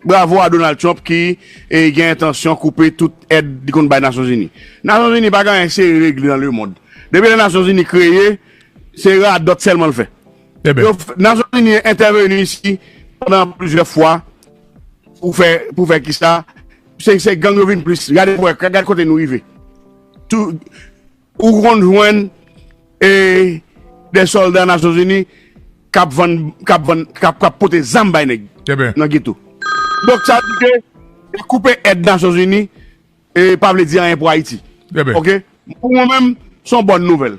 Bravo a Donald Trump ki gen entansyon koupe tout èd li konn bay Nasyon Zini. Nasyon Zini pa gen anyen serye regle nan lemond. Depi lè Nasyon Zini kreye, se radòt sèlman l fè. Nasyon Zini entèveni isi pandan plizyè fwa pou fè kisa? Se gang yo vin plis. Gade kote nou rive. Ou konn jwenn de solda Nasyon Zini k ap vann, k ap vann, k ap pote zam bay nèg nan geto. Donk sa di ke koupe èd Nasyon Zini pa vle di anyen pou Ayiti. Ok. Pou mwen menm, se yon bòn nouvèl.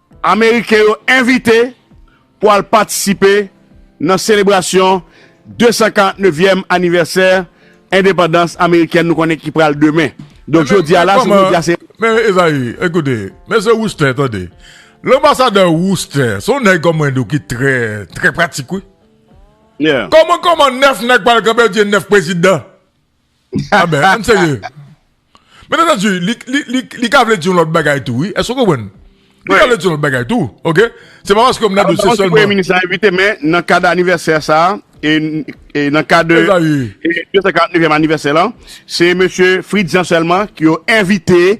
Ameriken yo envite pou al patisipe nan selebrasyon 249 vyèm anivèsè endepandans amerikèn nou konnen ki pral demen. Donk jodi a la se jodi a se. Men Ezayi, ekoute, Mesye Wooster tande, Lanbasadè Wooster se yon nèg kòm mwen di w ki trè, trè pratik wi. Kòman kòman 9 nèg pral kanpe di 9 prezidan? Ah ben, an serye. Men nan di, li ka vle di yon lòt bagay tou, wi. Èske ou konprann? Li ka vle di yon lòt bagay tou, ok? Se pa paske m nan dosye sèlman. Premye minis la envite men nan kad anivèsè sa, e nan kad 249 anivèsè la, se mesye Fritz Jean sèlman ki yo envite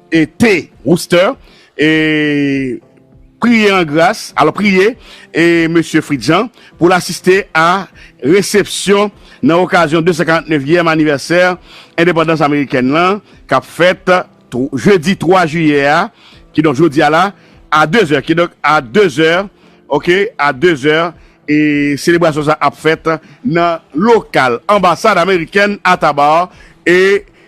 e te, Wooster, e priye an gras, alò priye, e Mesye Fritz Jean, pou l asiste a resepsyon nan okazyon 249 yèm anivèsè endepandans amerikèn lan k ap fèt jedi 3 jiyè a, kidonk jodi a la, a dezè, kidonk a dezè, ok, a dezè, e selebrasyon sa a ap fèt nan lokal anbasad amerikèn a Thabbar, e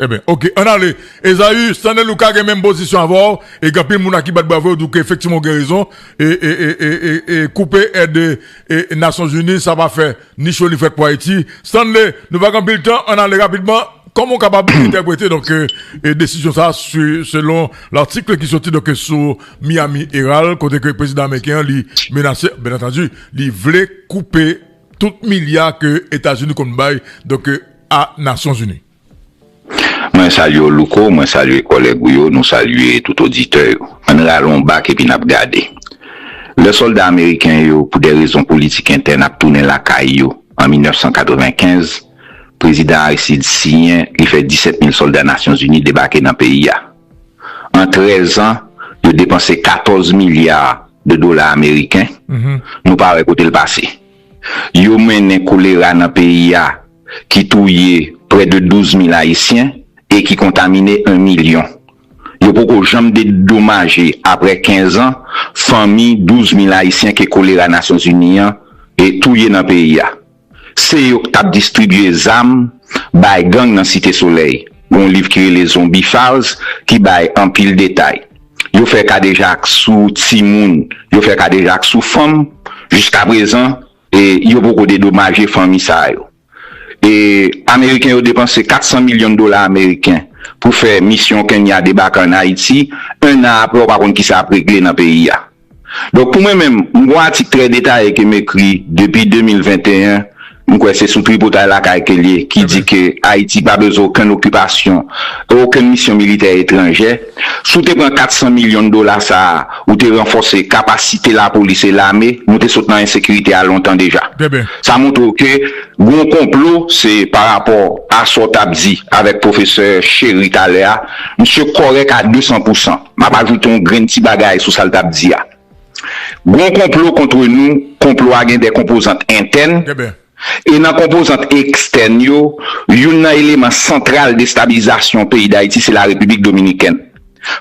Eh ben, ok, an ale. Esaü, Stanley Luca gen menm pozisyon avè w, e gen anpil moun a ki bat bravo yo di w ke efektivman w gen rezon, e, e, e, e, e, e koupe èd e, e, Nasyonzini sa pa fè ni cho ni frèt pou Ayiti. Stanley, nou pa gen anpil tan, an ale rapidman, kòman w kapab entèprete donk e desizyon sa a su, selon l'article ki soti donk e sou Miami Herald kote ke prezidan ameriken an li menase, byen antandi, li vle koupe tout milya ke Etazini konn bay donk e. a Nasyonzini. Mwen salye w Louko, mwen salye kòlèg ou yo, nou salye tout oditè yo. An n rale yon bak epi n ap gade. Lè sòlda ameriken yo, pou dè rezon politik entèn ap tounen lakay yo an 1995, Prezidan Aristide siyen li fè 17 mil sòlda Nasyonzini debake nan peyi a. An 13 an, yo depanse 14 milya de dola ameriken, nou pa wè kote l pase. yo mennen kolera nan peyi a ki touye prè de 12 mil ayisyen e ki kontamine 1 milyon. Yo poko janm dedomaje aprè 15 an fanmi 12 mil ayisyen ke kolera Nasyonzini an touye nan peyi a. Se yo k tap distribye zam bay gang nan Site Solèy. Gon liv ki rele Zombie Files ki bay anpil detay. Yo fè kadejak sou timoun, yo fè kadejak sou fanm, jiska prezan e yo poko dedomaje fanmi sa yo. E ameriken yo depanse 400 milyon dola ameriken pou fè misyon Kenya debake an Ayiti, 1 an apre ou pa konn kisa ap regle nan peyi a. Donk pou mwen menm, m gon atik trè detaye ke m ekri depi 2021, m kwè se sou Tripotay Lakay ke l ye, ki di ke Ayiti pa bezwen okenn okipasyon e okenn misyon militè etranjè. Si w te pran 400 milyon dola sa a, ou te ranfòse kapasite lapolis e lame, nou te sot nan ensekirite a lontan deja. Sa montre w ke gon konplo, se pa rapò a sa w t ap di avèk pwofesè Chéry talè a, misye kòrèk a 200 pousan. M ap ajoute yon grenn ti bagay sou sa l t ap di a. Gon konplo kontre nou, konplo a gen de konpozant entèn, e nan konpozant ekstèn yo, youn nan eleman santral destabilizasyon peyi Dayiti se Larepiblik Dominikèn.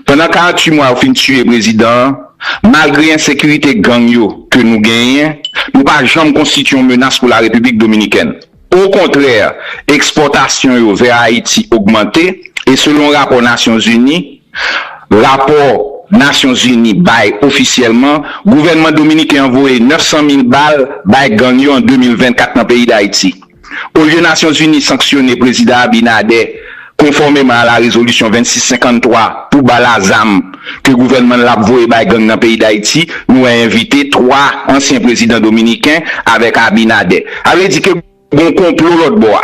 Pandan 48 mwa yo fin tiye prezidan an, malgre ensekirite gang yo ke nou genyen, nou pa janm konstitye yon menas pou Larepiblik Dominikèn. Okontrè, ekspòtasyon yo vè Ayiti ogmante e selon rapò Nasyon Zini, rapò Nasyon Zini bay ofisyèlman, gouvènman dominiken an voye 900 mil bal bay gang yo an 2024 nan peyi Dayiti. Olye Nasyon Zini sanksyone Prezidan Abinader Konfòmeman a la rezolisyon 2653 pou bal a zam ke gouvènman l ap voye bay gang nan peyi Dayiti, nou wè envite 3 ansyen prezidan dominiken avèk Abinader. Sa vle di ke gon konplo lòt bò a.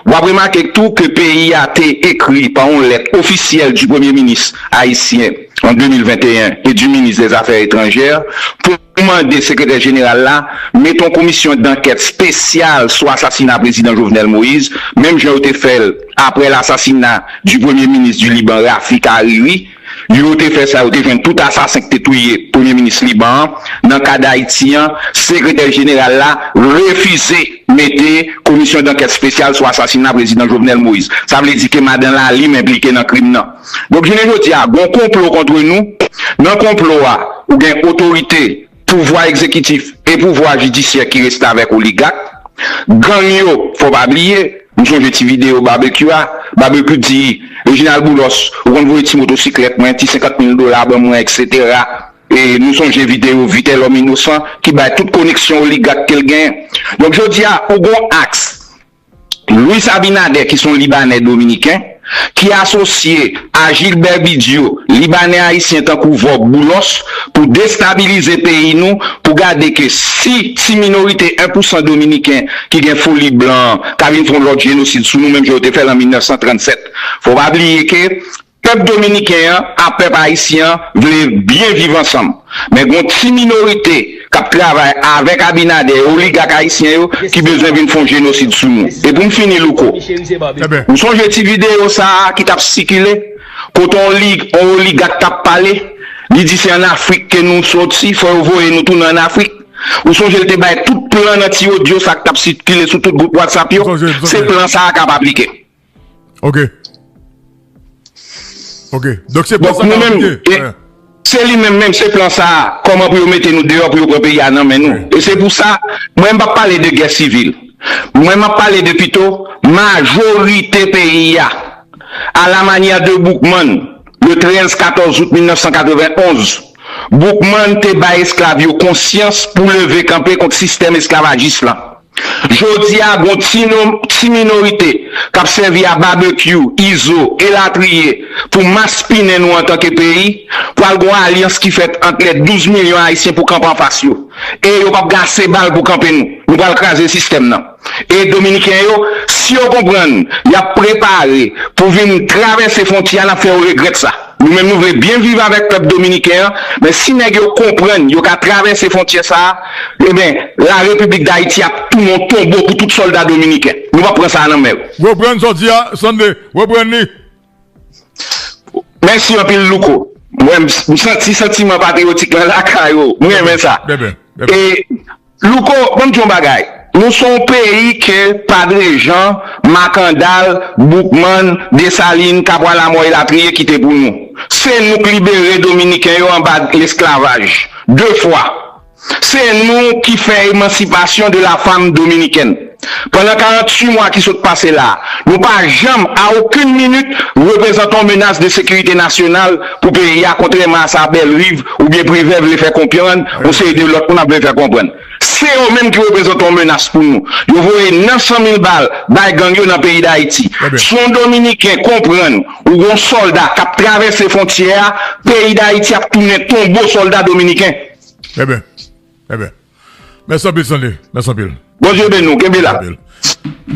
W ap remake k tou ke peyi a te ekri pa yon lèt ofisyèl di premye minis ayisyen an 2021 e di minis dè zafè etranjè pou. Mwen mande Sekretè Jeneral la mete yon komisyon dankèt spesyal sou asasina Prezidan Jovenel Moïse, menm jan yo te fè l aprè lasasina di Premye Minis di Liban Rafik Hariri. Yo te fè sa, yo te jwenn tout asasen ki te touye Premye Minis Liban an. Nan ka Dayiti an, Sekretè Jeneral la refize mete komisyon dankèt spesyal sou asasina Prezidan Jovenel Moïse. Sa vle di ke Madan Lalime enplike nan krim nan. Donk jounen jodi a gon konplo kontre nou, nan konplo a ou gen otorite pouvwa egzekitif e pouvwa jidisyè ki restavèk oligak, gang yo fò pa bliye, m sonje ti videyo Barbecue a, Barbecue di Reginald Boulos ou konn voye ti motosiklèt mwen, ti 50 mil dola ban mwen eksetera, e nou sonje videyo Vitelhomme Innocent ki bay tout koneksyon oligak ke l genyen. Donk jodi a ou gon aks Luis Abinader ki son Libanè Dominiken, ki asosye a Gilbert Bidio, Libanè Ayisyen tankou Vorbe Boulos pou destabilize peyi nou pou gade ke si ti minorite 1 pou 100 Dominiken ki gen foli blan an ta vin fon lòt jenosid sou nou menm jan yo te fèl an 1937. Fò pa bliye ke Pèp dominiken an a pèp ayisyen an vle byen viv ansanm men gon ti minorite kap travay avèk abinader e oligak ayisyen yo ki bezwen vin fon jenosid sou nou e poum fini louko ou sonje ti video sa a ki tap sikile kote on lig on oligak tap pale li di se an afrik ke nou soti fò yo voye nou tounen an afrik ou sonje l te bay tout plan nan ti odio sa ki tap sitkile sou tout gwoup watsap yo se plan sa a kap aplike. Ok. Ok. Donk se plan sa nou menm. Se li menm menm se plan sa. Koman pou yo mete nou deyo pou yo pran peyi a nan men nou. E se pou sa mwen pa pale de gè sivil. Mwen map pale de pito majorite peyi a. A la manya de Boukman le 13, 14 out 1991. Boukman te bay esklav yo konsyans pou leve kanpe kont sistèm esklavajis la. Jodi a gon ti non ti minorite kap sèvi a babekyou, izo elatriye pou maspinen nou antanke peyi, pwal gon alyans ki fèt ant lè 12 milyon ayisyen pou kanpe anfas yo e yo pap gen ase bal pou kanpe nou, nou pwal kraze sistèm nan e dominiken yo si yo konprann yap prepare pou vin travèse fontyè a nap fè yo regrèt sa. Nou menm nou vle byen viv avèk pèp dominiken an, men si nèg yo konprann yo ka travèse fontyè sa a, enben la repiblik dayiti ap tounen yon tonbo pou tout sòlda dominiken. Nou pap pran sa a nan men yo. Reprann sò di a Sunday, reprann li. Mèsi anpil Louko. M santi santiman patriyotik lan lakay ou. M renmen sa. E Louko banm di yon bagay nou son peyi ke padre Jean, Makandal, Boukman, Desalin, Kabwa Lamò elatriye kite pou nou. Se nou k libere dominiken yo anba lesklavaj 2 fwa. Se nou ki fè emansipasyon de la fam dominikèn. Pandan 48 mwa ki sot pase la, nou pa janm, a okenn minit, reprezante yon menas de sekirite nasyonal pou peyi a, kontrèman a sa Bellerive oubyen Privè vle fè konprann, yon seri de lòt moun ap vle fè konprann. Se yo menm ki reprezante yon menas pou nou. Yo voye 900 mil bal bay gang yo nan peyi Dayiti. Si yon Dominiken konprann ou gon sòlda k ap travèse fontyè a, peyi Dayiti ap tounen tonbo sòlda Dominiken. Mèsi anpil Stanley, mèsi anpil. Bondye beni w, kenbe la.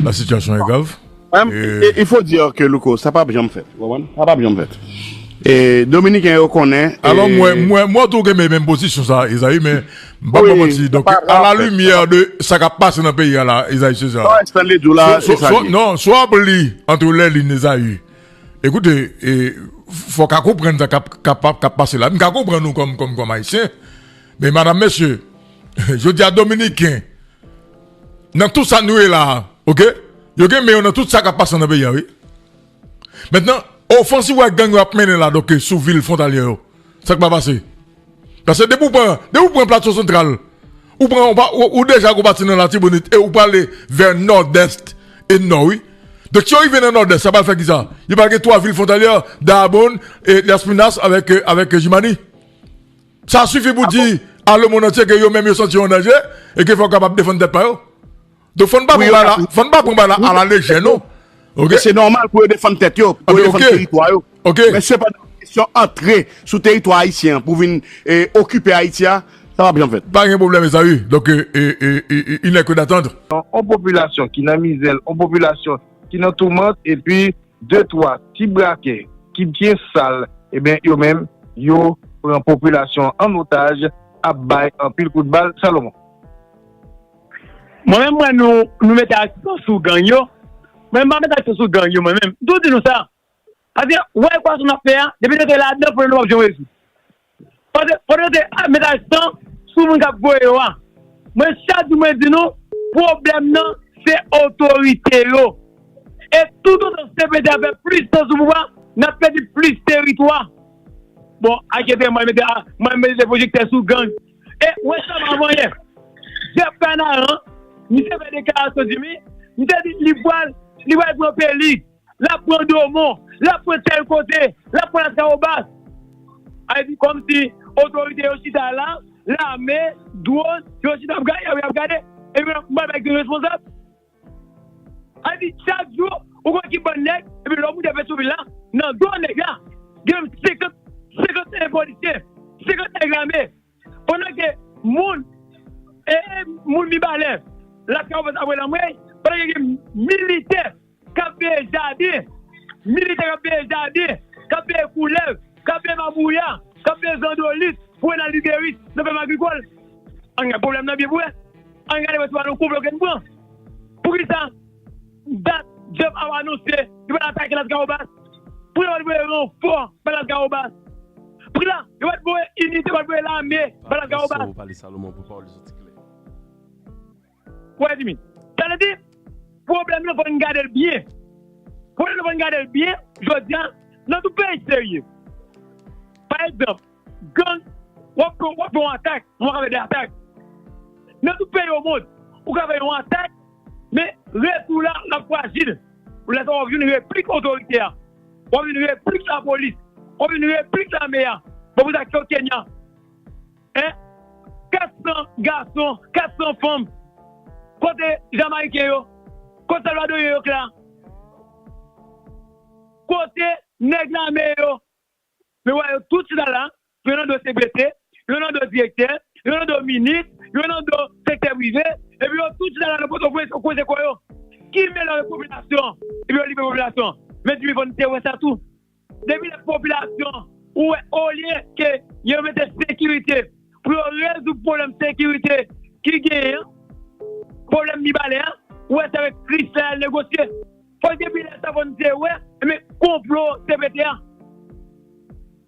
La situation est grave. Et il faut dire que Louko, sa pap janm fèt, ou konprann? Sa pap janm fèt. E Dominiken yo konnen e. Alò mwen, mwen, mwen wè tou ou kenbe menm pozisyon sa a Esaü men m pap fè manti donk a la limyè de sa k ap pase nan peyi a la Esaü Cesar Sa Stanley di w la se sa li ye. Non, si w ap li entre les lignes Esaü, écoute e fò w ka konprann sa k ap, k ap, k ap pase la. M ka konprann ou kòm, kòm, kòm Ayisyen. Men madam mesye jodi a dominiken nan tout sa nou ye la ok yo gen men yo nan tout sa kap pase nan peyi a wi mentnan ofansiv wè gang yo ap mennen la doke sou vil fontalyè yo sak pa pase pase depi ou pran depi ou pran plato santral ou pran ou deja gou pati nan latibonit e ou prale vè nòdèst e nò wi dèk si yo rive nan nòdès sa pral fè kisa yo pral gen 3 vil fontalyè daabonn e lèspinas avèk e avèk e jimani. Sa sifi pou di a lemond antye ke yo menm yo santi yo an danje e ke fò yo kapab defann tèt pa yo. Donk fò n pa pran bagay la a la lejè non. E se nòmal pou yo defann tèt yo, pou yo defann teritwa yo. Men sepandan, kesyon antre sou teritwa ayisyen an pou vin okipe Ayiti a, sa pap janm fèt. Pa gen pwoblèm mezanmi. Donk il nè ke datandr. On popilasyon ki nan mizè, on popilasyon ki nan toumant epi 2 3 ti brakè ki byen sal ebyen yo menm yo pran popilasyon an an otaj ap bay anpil kout bal Salomon. Mwen menm mwen nou nou mete aksan sou gang yo mwen menm m pa mete aksan sou gang yo mwen menm m toujou di nou sa paske wè ekwasyon nap fè a depi nou te ladan pwoblèm nou pap janm rezoud Pandan ke ap met aksan sou moun kap voye yo a, mwen chak jou mwen di nou pwoblèm nan se otorite yo. E tout otan CPT ap fè plis tan sou pouvwa, nap pèdi plis teritwa. Bon, akyete mwen mete mwen mete pwojektè sou gang. E ou wè sa avan yè, Jeff Kanaran, misye fè deklarasyon Jimmy, misye di li pwal li pwal pran peli. L ap pran Domon, l ap pran tèl kote, l ap pran Laskawobas. A epi kòmsi otorite yo chita la, lame, dwon, yo chita ap gade, y ap gade, epi yo pral bay responsab. A epi chak jou, ou konn ki bann nèg, epi lè w moute Petrovil la, nan do nèg la, gen 50, 51 polisye, 50 nèg lame. Pandan ke moun ee moun mibalè la kawòs apre lanmwey pandan ke gen militè kap veye jaden militè kap veye jaden kap veye koulèv kap veye mabouya kap veye zandolit pou Renald Ribéry nan fèm agrikòl ann gad pwoblèm nan byen pou wè ann gade wè se pa nan konplo ke n pran poukisa Dat Jeff Awa anonse li pral atake Lascahobas pou yo pa t voye ranfò bay Lascahobas. Pri la, yo pa t voye inite, yo pa t voye lame bay Lascahobas. Wè Jimmy, sa vle di pwoblèm nan fò n gade l byen. Pwoblèm nan fò n gade l byen jodi a nan tout peyi serye. Pa egzanp. Gang, wap fè yon atak, wap ka fè 2 atak. Nan tout peyi omond, ou ka fè yon atak, men retou la ap frajil. Lè sa wap jwenn replik otorite a, wap jwenn replik lapolis, wap jwenn replik lame a. Bon pou sa kèw Kenya? 400 gason, 400 fanm, kote Jamayiken yo? Kote Salvadoryen yo k la? Kote nèg lame yo? Yo wè yo tout chita la, yo nan do CPT, yo nan do direktè, yo nan do minis, yo nan do sektè prive, epi yo tout chita la nan Pòtoprens yo kwoze kò yo. Ki melanje popilasyon an? Epi yo limen popilasyon an. Mezanmi fò n te wè sa tou. Depi lè popilasyon an ou wè olye ke yo mete sekirite pou yo rezoud pwoblèm sekirite ki genyen an, pwoblèm Mibalè a, ou wè se avèk Krisla y al negosye. Fòk depi lè sa fòn te wè ebyen konplo cpt an.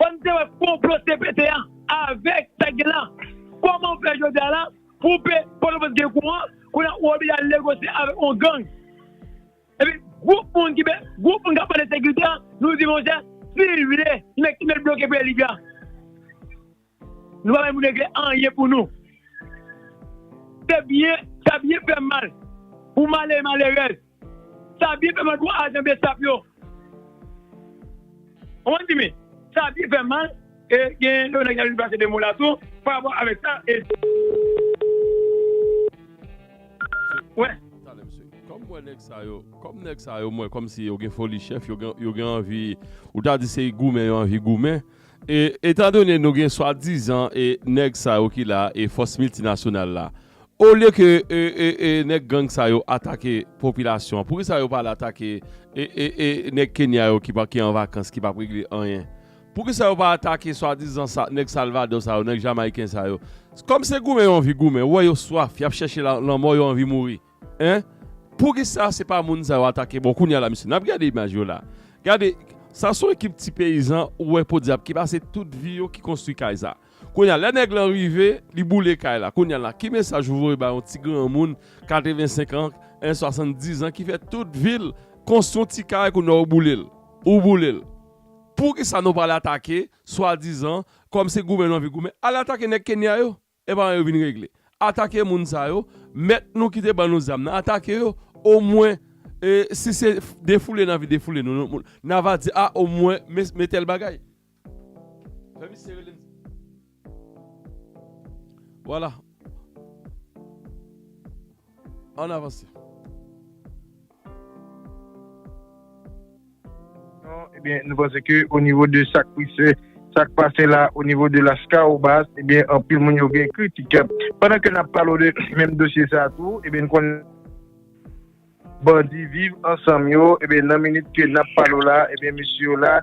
Fòn te wè konplo cpt an avèk sa gen la. Kòmanw fè jodia la pou w pe pòtoprens gen kouran kounya ou oblije al negosye avèk on gang. Epi gwoup moun ki gwoup moun kap pale de sekirite an nou di monchè sil vle li mèt ki mèt bloke peyi libya. Nou pa bay moun regle anyen pou nou. Se byen, sa byen fè mal pou malere malerèz. Sa byen fè mal pou ajan bsap yo. Ou konprann Jimmy? Sa byen fè mal e gen yon nèg ki ta vin plase 2 mo la tou pa rapò avèk sa e. Kòm mwen nèg sa yo, kòm nèg sa yo mwen kòmsi yo gen foli chèf, yo gen anvi, ou ta di se goumen yo anvi goumen. E etan done nou gen swadizan e nèg sa yo ki la e fòs miltinasyonal la olye ke e e e nèg gang sa yo atake popilasyon an poukisa yo pa al atake e e e nèg Kenya yo ki pa ki an vakans ki pap regle anyen poukisa yo pa atake swadizan sa nèg salvadò sa yo nèg jamayiken sa yo kòm se goumen yo anvi goumen ou wè yo swaf yap chèche la lanmò yo anvi mouri. Hein poukisa se pa moun sa yo atake bon kounya la mesye nap gade imaj yo la gade sa son ekip ti peyizan ou wè podyab ki pase tout vi yo ki konstwi kay sa kounya lè nèg lan rive li boule kay la kounya la ki mesaj ou voye ba yon ti granmoun 85 ans hein 70 ans ki fè tout vil konstwi yon ti kay kounya ou boulel ou boulel poukisa nou pa al atake swadizan kòm se goumen nou anvi goumen al atake nèg kenya yo Epa yo vin regle. Atake moun sa yo, mèt nou ki te ban nou zam nan atake yo, o mwen si se defoule nan vi defoule nou nan va di a o mwen me tèl bagay. Fè misye rele m. Vwala. An avanse. Ebyen nou panse ke o nivo de sak pise sak pase la o nivo de las kaobas ebyen anpil moun yo gen kritik pandan ke nap palo de menm dosye sa tou ebyen nou konnen bandi viv ansanm yo ebyen nan minit ke nap palo la ebyen mesye yo la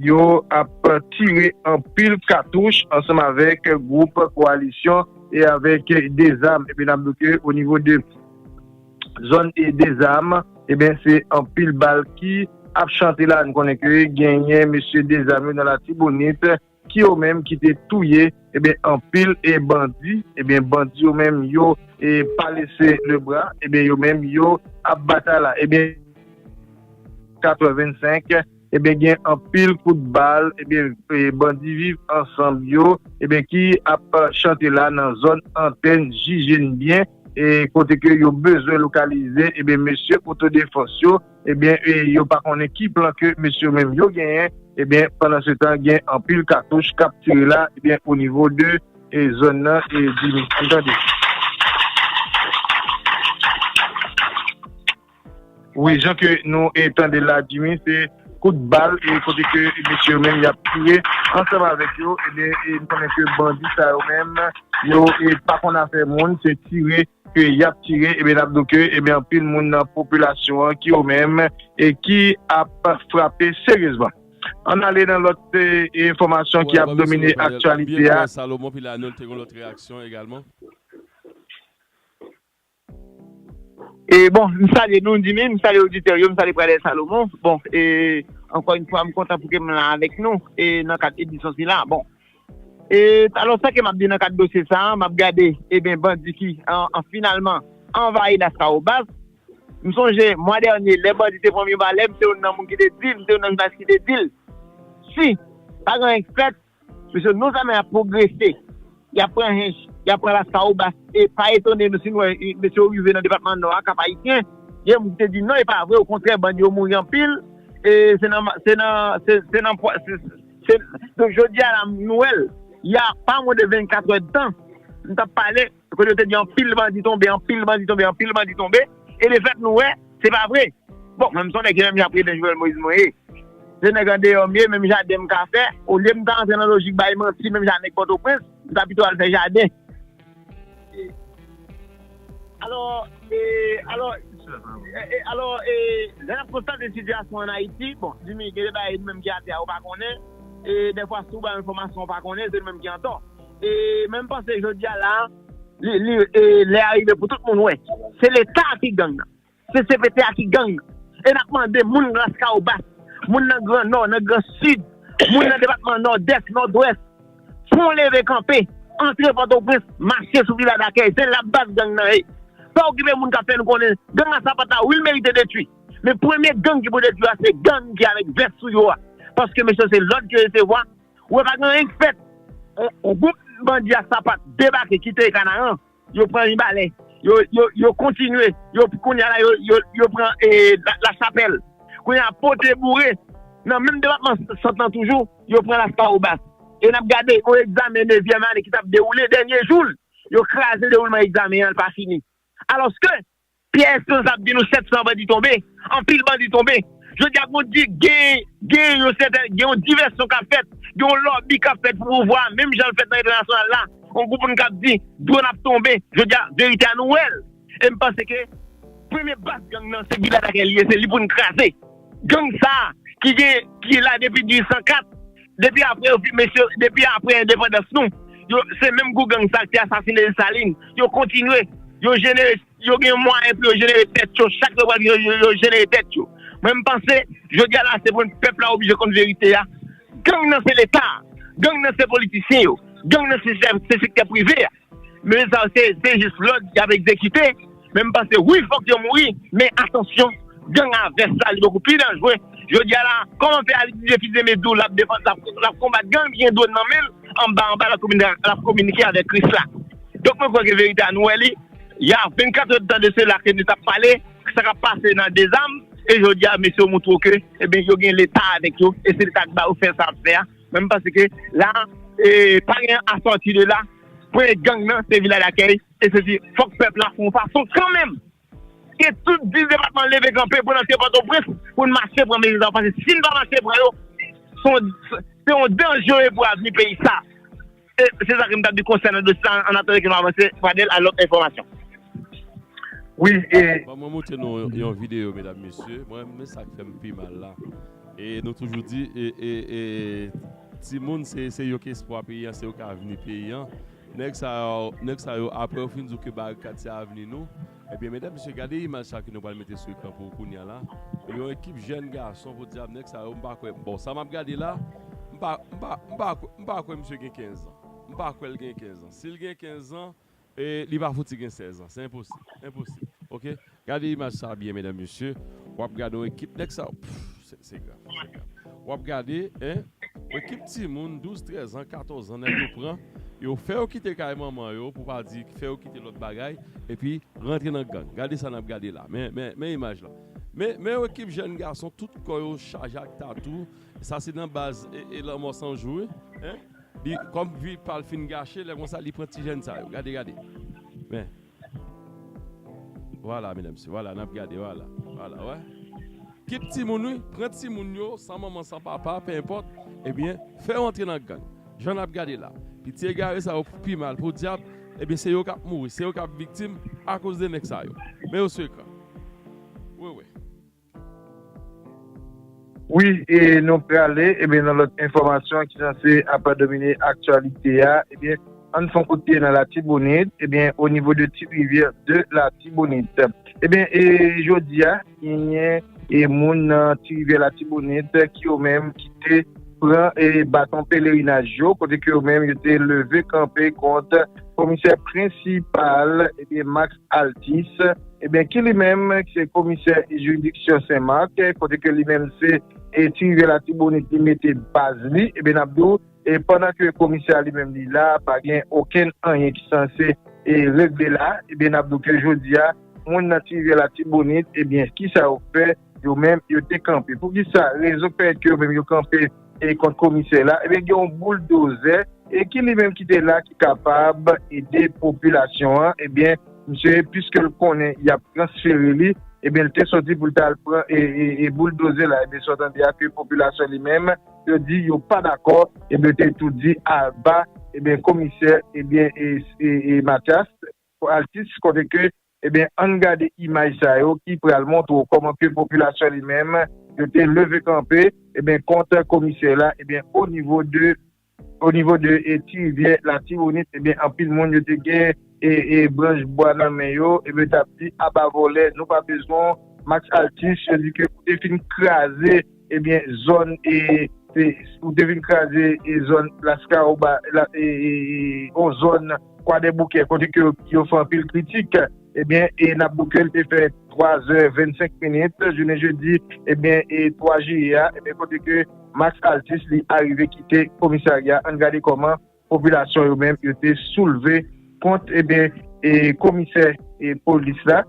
yo ap tire anpil katouch ansanm avek group koalisyon e avek dezam ebyen nap di ke o nivo de. Zòn e dezam ebyen se anpil bal ki ap chante la nou konnen ke genyen mesye dezam yo nan latibonit ki yo menm ki te touye ebyen anpil e bandi ebyen bandi yo menm yo e pa lese le bra ebyen yo menm yo ap batay la ebyen 4 è 25. ebyen gen anpil kout bal ebyen bandi viv ansanm yo ebyen ki ap chante la nan zòn antèn jije n byen kote ke yo bezwen lokalize ebyen mesye otodefans yo ebyen yo pa konnen ki plan ke mesye yo menm yo genyen ebyen pandan se tan gen anpil katouch kap tire la ebyen o nivo de zòn nan ebyen nou tande. Wi jan ke nou tandel la Jimmy se kout bal e kote ke mesye yo menm yap tire ansanm avèk yo ebyen nou konnen ke bandi sa yo menm yo pa konn afè moun se tire ke yap tire ebyen nap diw ke ebyen anpil moun nan popilasyon an ki yo menm e ki ap frape seryezman. Ann ale nan lòt enfòmasyon ki ap domine aktyalite a. Bon, m salye nou Dimy, m salye oditè yo, m salye Pradel Salomon. Bon, e, ankò yon fwa m kontan pou ke m la avèk nou, e, nan kad edisyon sila a. Bon, e, alò sa ke m ap di nan kad dosye sa a, m ap gade, e ben, bandi ki, an, finalman, anvayi Lascahobas. M sonje, mwa dènye, lè bandi te pran m yon balè, m se youn nan moun ki te di, m se youn nan jounalis ki te di l, si pa gen anyen k fèt, Mesye, nou zame ap pwogrese. Y ap pran Hinche, y ap pran Laskawobas e pa etone nou si nou wè mesye yo rive nan depatman Nò a, Kap-Ayisyen. Gen moun ki te di, non e pa vre, okontrè bandi yo mouri anpil e se nan, se nan, se nan pwa, se, se, donk jodi a la nou wè l. Ya pa mwen de 24 èdtan, m t ap pale. Kote yo te di anpil bandi tonbe, anpil bandi tonbe, anpil bandi tonbe, e de fèt nou wè, se pa vre. Bon, mwen m son nèg se menm jan prezidan Jovenel Moïse mwen ye. Se nèg andeyò m ye, menm jaden m ka fè. Olye m ta antre nan lojik bay manti menm jan a nèg Pòtoprens, m ta pito al fè jaden. Alò, e, alò, e, alò, e, lè n ap konstate sitiyasyon an Ayiti, bon, Jimmy, gen de bagay nou menm ki atè a ou pa konnen, e dèfwa si ou bay yon enfòmasyon ou pa konnen, se nou menm ki antò. E menm panse jodia la li lè a rive pou tout moun wè se leta a ki gang nan se cpt a ki gang nan e nap mande moun laskawobas moun nan gran nò nan gran sid moun nan depatman nòdès nòdwès fon leve kanpe antre pòtoprens mache sou vila dakèy se la baz gang nan ye pa okipe moun kap fè nou konnen gang a sapata wi l merite detwi men premye gang ki pou detwi a se gang ki avèk vès sou yo a paske mesye yo se lòd yo resevwa. Ou wè pa gen anyen k fèt. Yon gwoup bandi a sapat debake kite Kanaran, yo pran Mibalè, yo kontinye, kounye a la yo pran Lachapèl, kounye a Pote Boure, nan menm depatman Sant lan toujou, yo pran Laskawobas. E n ap gade yon egzamen nevyèm ane ki t ap dewoule, dènye jou l, yo kraze dewoulman egzamen an, l pa fini. Alòske. Pierre Esperance ap di nou 700 bandi tonbe, anpil bandi tonbe. Jodi a nou di gen yon sèten, gen yon divèsyon kap fèt, gen yon lòbi kap fèt pou pouvwa a menm jan l fèt nan entènasyonal la. Yon gwoup moun kap di dwòn ap tonbe. Jodi a verite a nou wè l. E m panse ke premye baz gang nan se Gilad ak Elie se li pou n kraze. Gang sa ki gen, ki la depi 1804. Depi apre yo fin mesye depi apre endepandans nou yo se menm gou gang sa ki asasine Dessalines yo kontinye yo jenere yo gen mwayen pou yo jenere tèt yo chak lè yo pral gen yo yo jenere tèt yo mwen m panse jodi a la se pou pèp la oblije konn verite a gang nan se leta gang nan se politisyen yo gang nan se sektè prive a. Mesye sa yo se jis lòd yap egzekite, men m panse wi fòk yo mouri, men atansyon gang a vès la li bokou pi danjre, jodi a la kòman fè Alix Dieuphidné me diw lap defann lap konbat gang ki gen dwòn nan menl anba anba lap kominike avèk Kris la, donk mwen kwè ke verite a nou wè li ya 24 heures de tan de sela ke nou tap pale sa kap pase nan dezam e jodi a mesye yo moutre w ke ebyen yo gen leta avèk yo e se leta ki ba yo fè sa yap fè a. Menm paske la pa gen a sòti de la premye gang nan se Vila Dakèy e se di fòk pèp la fè yon fason kanmenm ke tout 10 depatman leve kanpe pou n antre Pòtoprens pou n mache pran mezi sa yo paske si n pa mache pran yo se yon danje pou avni peyi sa a. Se sa ke m tap di konsènan dosye sa an atanke ke m avanse Pradel a lòt enfòmasyon. Wi e. Bon mwen montre nou yon video medam mesye mwen men sak fèm pi mal la e nou toujou di e e timoun se se yo ki espwa peyi an se yo ki avni peyi an nèg sa yo nèg sa yo aprè yo fin di w ke barikad se avni nou Ebyen medam mesye gade imaj sa ke nou pral mete sou ekran pou ou kounya la yon ekip jèn gason podyab nèg sa yo m pa kwè bon sa map gade la m pa m pa m pa kwè m pa kwè misye gen 15 zan m pa kwè l gen 15 zan si l gen 15 zan li pa fouti gen 16 zan se enposib enposib ok gade imaj sa byen medam mesye wap gade yon ekip nèg sa yo pff. Se grav, se grav. W ap gade, en, yon kip timoun, 12, 13 an, 14 an, nèg yo pran, yo fè yo kite kay manman yo, pou pa di, fè yo kite lòt bagay, epi rantre nan gang. Gade sa n ap gade la. Men, men, men imaj la. Men, men yon kip jèn gason, tout kò yo chaje ak tatou. Sa se nan baz e, e lanmò san jou wi. En, li, kòm vi pa l fin gache, lè konsa li pran ti jèn sa yo. Gade, gade. Men, Voilà mesdames messieurs voilà nap gade voilà voilà wè kip timoun wi pran timoun yo san manman san papa pe enpòt ebyen fè yo antre nan gang jan nap gade la piti egare sa yo pi mal podyab ebyen se yo kap mouri se yo kap viktim akoz de nèg sa yo men yo sou ekran wewe. Wi e nou prale ebyen nan lòt enfòmasyon ki sanse ap domine aktyalite a ebyen ann fon kout pye nan latibonit ebyen o nivo de ti rivyè de latibonit ebyen e jodi a genyen e moun nan ti rivyè latibonit ki yo menm ki te pran e baton pelerinaj yo kote ki yo menm yo te leve kanpe kont komisè prensipal ebyen max. Altis, ebyen ki li menm ki se komisè jiridiksyon Sen Mak, kote ke li menm se ti rivyè latibonit li mete baz li, ebyen nap di w pandan ke komisè a li menm li la pa gen okenn anyen ki sanse regle la, ebyen nap di w ke jodi a moun nan ti rivyè latibonit ebyen kisa yo fè? Yo menm yo te kanpe. Poukisa? Rezon k fè ke yo menm yo kanpe e kont komisè la, ebyen gen yon bouldozè e ki li menm ki te la ki kapab ede popilasyon an, ebyen misye piske l konnen y ap transfere li, ebyen l te sòti pou l ta al pran e bouldozè la, ebyen sa w tande a ke popilasyon li menm yo di yo pa dakò, ebyen yo te tou di aba ebyen komisè ebyen e Matyas Altis kote ke Ebyen ann gade imaj sa yo ki pral montre w kòman ke popilasyon li menm yo te leve kanpe ebyen kont komisè la ebyen o nivo de o nivo de ti rivyè latibonit ebyen anpil moun yo te gen e branch bwa nan men yo ebyen yo t ap di aba vòlè nou pa bezwen w Max Althus yo di ke ou te fin kraze Ebyen zòn e ou te vin kraze e zòn laskawoba e yon zòn kwadèboukè kote ke yo fè anpil kritik ebyen e nap boukel te fè 3 zè 25 minit jounen jedi ebyen e 3 jiye a ebyen kote ke max altis li arive kite komisarya ann gade kòman Popilasyon yo menm yo te soulve kont eben komisè polis la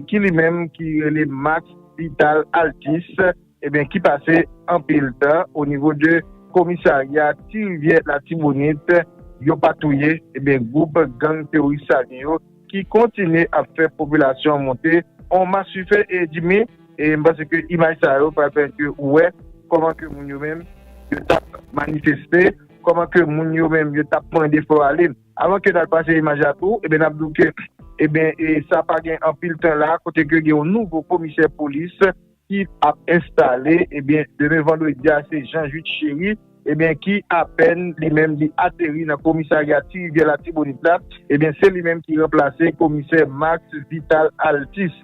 ki li menm ki rele Max Vital Altis eben ki pase anpil tan o nivo de komisarya ti rivyè latibonit yo pa touye eben gwoup gang teworis sali yo ki kontinye ap fè popilasyon an monte on masufe e dimi e m panse ke imaj sa yo pral pèmèt ke ou wè kòman ke moun yo menm yo tap manifeste. Kòman ke moun yo menm yo tap mande fòw ale. Avan ke nal pase imaj la tou, ebyen nap diw ke ebyen sa pa gen anpil tan la kote ke gen yon nouvo komisè polis ki ap enstale ebyen demen vandredi a se Jean Jude Chéry ebyen ki apèn li menm li ateri nan komisarya ti rivyè latibonit la ebyen se li menm ki ranplase komisè Max Vital Altis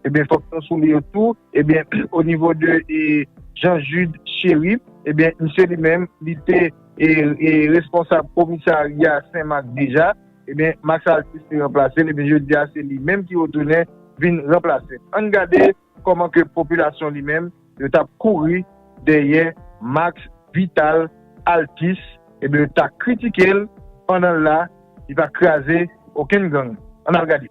ebyen fòk nou souliye tou ebyen onivo de Jean Jude Chéry. Ebyen misye li menm li te responsab komisarya sen mak deja, ebyen Max Althus te ranplasel ebyen jodia se li menm ki retounen vin ranplasel. Ann gade kòman ke popilasyon li menm yo tap kouri dèyè Max Vital Althus ebyen yo ta kritikel pandan la li pa kraze okenn gang. Ann al gade.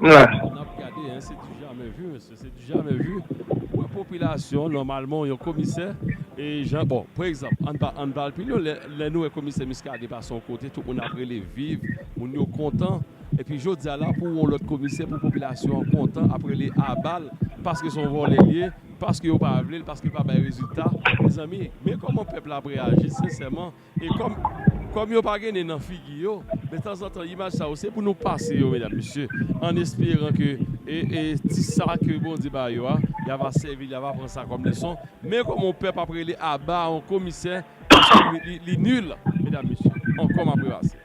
M la. Sa nap gade hein se du jamais vu mesye se du jamais vu pou yon popilasyon nòmalman yon komisè e jan bon pou egzanp ann pa ann pal pi lwen lè nou wè komisè Muscadin pase yon kote tout moun ap rele viv moun yo kontan epi jodi a la pou wè yon lòt komisè pou popilasyon an kontan ap rele aba l paske son vòlè l ye paske yo pa vle l paske l pa bay rezilta mezanmi men kòman pèp la ap reyaji sensèman E kòm kòm yo pa gen nen nan figi yo, men tanzantan imaj sa yo se pou nou pase yo medam mesye, an esperan ke e e ti sa ke Bondye ba yo a, y a va sèvi, y a va pran sa kòm leson, men kòm on pèp ap rele aba on komisè paske li li li nul medam mesye, ankò m ap repase.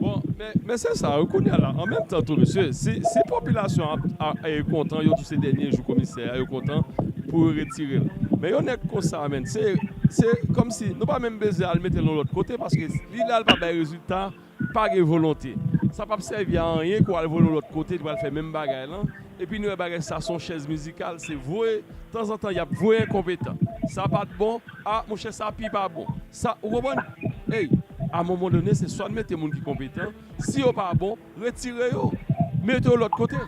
Bon, men se sa wi kounya la, an menm tan tou mesye, si popilasyon an kontan yo di se dènye jou komisè a, yo kontan pou yo retire l. Men yon nèg konsa menn, se kòmsi nou pa menm bezwen al mete l yon lòt kote paske li la li pa bay rezilta, pa gen volonte. Sa pap sèvi a anyen ke w al voye l yon lòt kote li pral fè menm bagay lan, epi nou wè bagay sa se yon chèz mizikal, se voye, tanzantan y ap voye enkonpetan. Sa pat bon. Ah monchè sa pi pa bon sa ou konprann ey a moman done se swa n mete moun ki konpetan si yo pa bon retire yo mete yo lòt kote.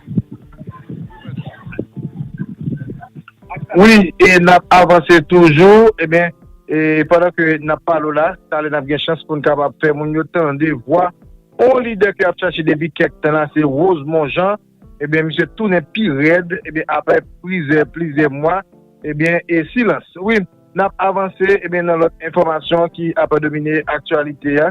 Wi e nap avanse toujou ebyen e pandan ke nap pale w la talè nap gen chans poun kapab fè moun yo tande vwa on lidè ke ap chache depi kèk tan la se Rosemond Jean. Ebyen misye tounen pi rèd ebyen aprè plizè plizè mwa ebyen e silans wi nap avanse ebyen nan lòt enfòmasyon ki ap domine aktyalite a.